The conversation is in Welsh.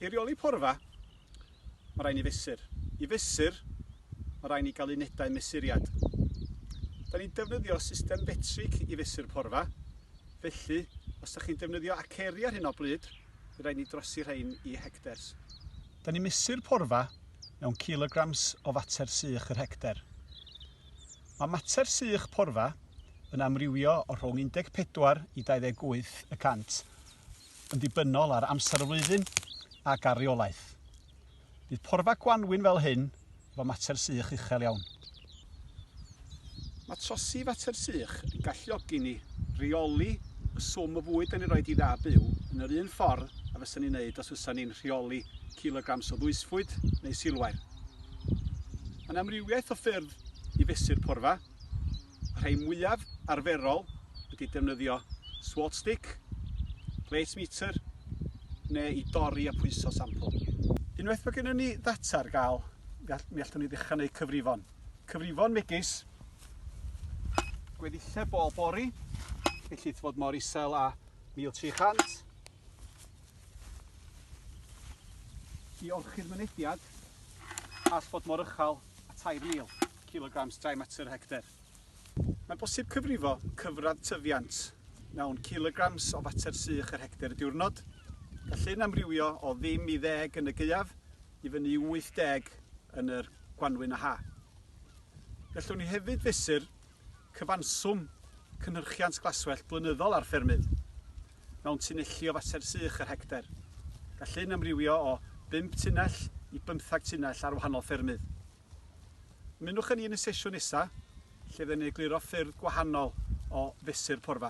I reoli porfa, mae rhaid ni fesur. I fesur, mae rhaid ni gael unedau mesuriad. Da ni'n defnyddio system fetric i fesur porfa, felly os da chi'n defnyddio aceri ar hyn o bryd, bydd rhaid ni drosi rhain i hectars. Da ni'n mesur porfa mewn kilograms o fater sych yr hectar. Mae mater sych porfa yn amrywio o rhwng 14 i 28 y cant, yn ddibynnol ar amser y flwyddyn ac ar reolaeth. Bydd porfa gwanwyn fel hyn efo mater sych uchel iawn. Mae trosi fater sych yn galluogi ni reoli y swm o fwyd dan ni'n rhoi i dda byw yn yr un ffordd a fysa ni'n neud os fysa ni'n rheoli kilograms o ddwysfwyd neu silwair. Mae'n amrywiaeth o ffyrdd i fesur porfa. Y rhai mwyaf arferol ydy defnyddio swot stick, plate meter neu i dorri a pwyso sampl. Unwaith mae gennym ni ddata ar gael, mi allwn ni ddechrau gwneud cyfrifon. Cyfrifon megis gweddill bol bori, felly fod mor isel a 1300. I orchudd mynediad, all fod mor uchel a 3000. kilograms dry matter hectare. Mae'n bosib cyfrifo cyfradd tyfiant mewn kilograms o fater sych yr hectare y diwrnod. Gall hyn amrywio o ddim i ddeg yn y gaeaf i fyny i 80 yn yr gwanwyn a ha. Gallwn ni hefyd fesur cyfanswm cynhyrchiant glaswellt blynyddol ar ffermydd mewn tunelli o fater sych yr hectare. Gall hyn amrywio o 5 tunell i bymthag tunell ar wahanol ffermydd. Ymunwch â ni yn y sesiwn nesa, lle fydden ni'n egluro ffyrdd gwahanol o fesur porfa.